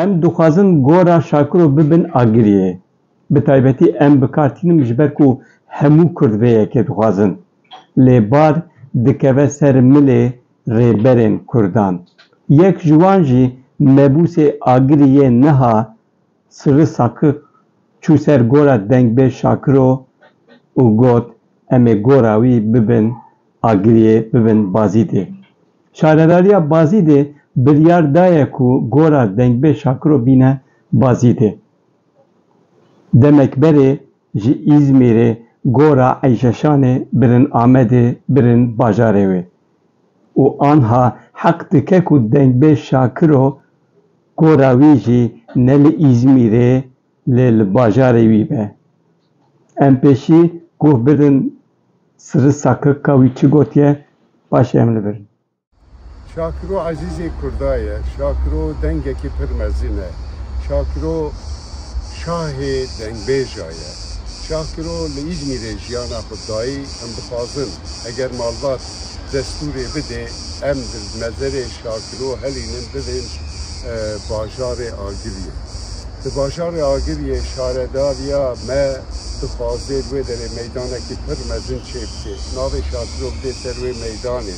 Em dixwazin gora Şakiro bibin Agiriyê. Bi taybetî em bi kar tînin ji ber ku hemû Kurd vê yekê dixwazin. Lê bar dikeve ser milê rêberên Kurdan. Yek ji wan jî mebûsê Agiriyê niha Sirri Saki çû ser gora Dengbê Şakiro û got, Em ê gora wî bibin Agiriyê, bibin Bazîdê. Şaredariya Bazîdê biryar daye ku gora Dengbê Şakiro bîne Bazîdê. Demek berê ji Îzmîrê gora Eyşeşanê birin Amedê, birin bajarê wê. Û anha heq dike ku Dengbê Şakiro Gora wî jî ne li Îzmîrê lê li bajarê wî be. Em pêşî guh bidin Siri Sakik ka wî çi gotiye paşê em li vir in. Şakiro ezîzê Kurda ye. Şakiro dengekî pir mezin e. Şakiro şahê dengbêja ye. Şakiro li Îzmîrê jiyana xwe dayî. Em dixwazin eger malbat destûrê bidê em di mezerê Şakiro Dilo Helînin bibin bajarê Agiriyê. Di bajarê Agiriyê şaredariya me dixwaze di wê derê meydanekî pir mezin çêbike. Navê Şatirok dê ser wê meydanê.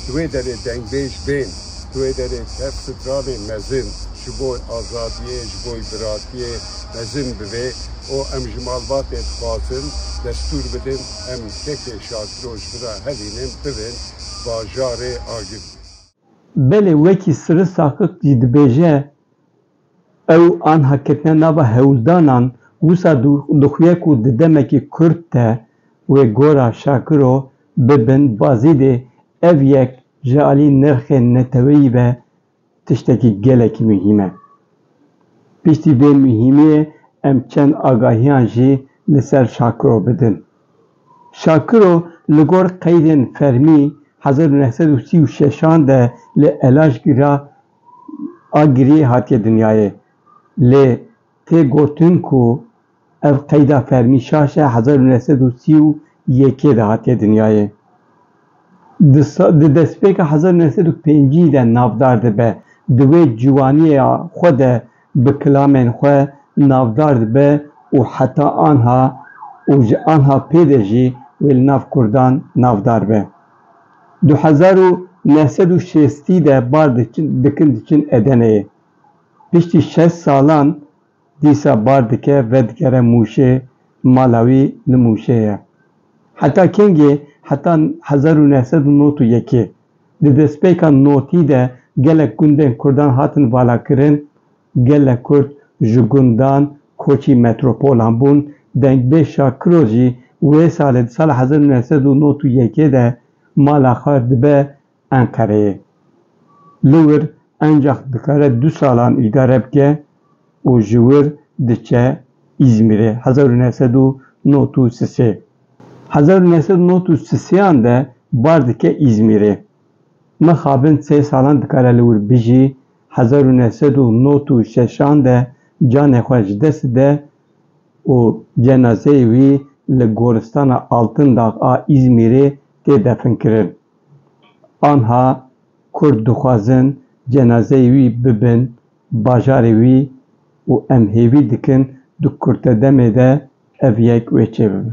Di wê derê dengbêj bên. Di wê derê tev stralên mezin ji bo azadiyê, ji bo biratiyê mezin bibe û em ji malbatê dixwazin destûr bidin em kekê Şatiro ji bira Helînin bibin bajarê Agiriyê. Belê wekî Sirri Saqik jî dibêje, Ew anha ketine nava hewldanan, wisa dixuye ku di demekî kurt de wê gora Şakiro bibin Bazîdê, ev yek ji alî nirxê neteweyî ve tiştekî gelekî muhîm e. Piştî vê muhîmiyê em çend agahiyan jî li ser Şakiro bidin. Şakiro li gor qeydên fermî hezar û neh sed û sî û şeş an de li Elajkî re a giriyê hatiye dinyayê. Lê tê gotin ku ev qeyda fermî şaşe hezar û neh sed û sî û yekê de hatiye dinyayê. Di destpêka hezar û neh sed û pêncî de navdar dibe, di wê ciwanîya xwe de bi kilamên xwe navdar dibe û heta anha û ji anha pê de jî wê li nav kurdan navdar be. Du hezar û neh sed û şêstî de bar dikin diçin Edeneyê. Piştî şeş salan dîsa bar dike vedigere Mûşê, mala wî li Mûşê ye. Heta kengê, heta hezar û neh sed û nod û yekê. Di destpêka notî de gelek gundên Kurdan hatin valakirin, gelek Kurd ji gundan koçî metropolan bûn, Dengbê Şakiro jî wê salê di sala hezar û neh sed û nod û yekê de mala xwe dibe Enqereyê. Li wir encax dikare du salan îdare bike û ji wir diçe Îzmîrê hezar û neh sed û nod û si sê. Hezar û neh sed û nod û si sêyan de bar dike Îzmîrê. Mixabin sê salan dikare li wir bijî, hezar û neh sed û nod û şeşan de canê xwe ji dest dide û cenazeyê wî li Goristana Altindax a Îzmîrê tê definkirin. Anha Kurd dixwazin cenazeyê wî bibin bajarê wî û em hêvî dikin di kurte demê de ev yek wê çêbibe.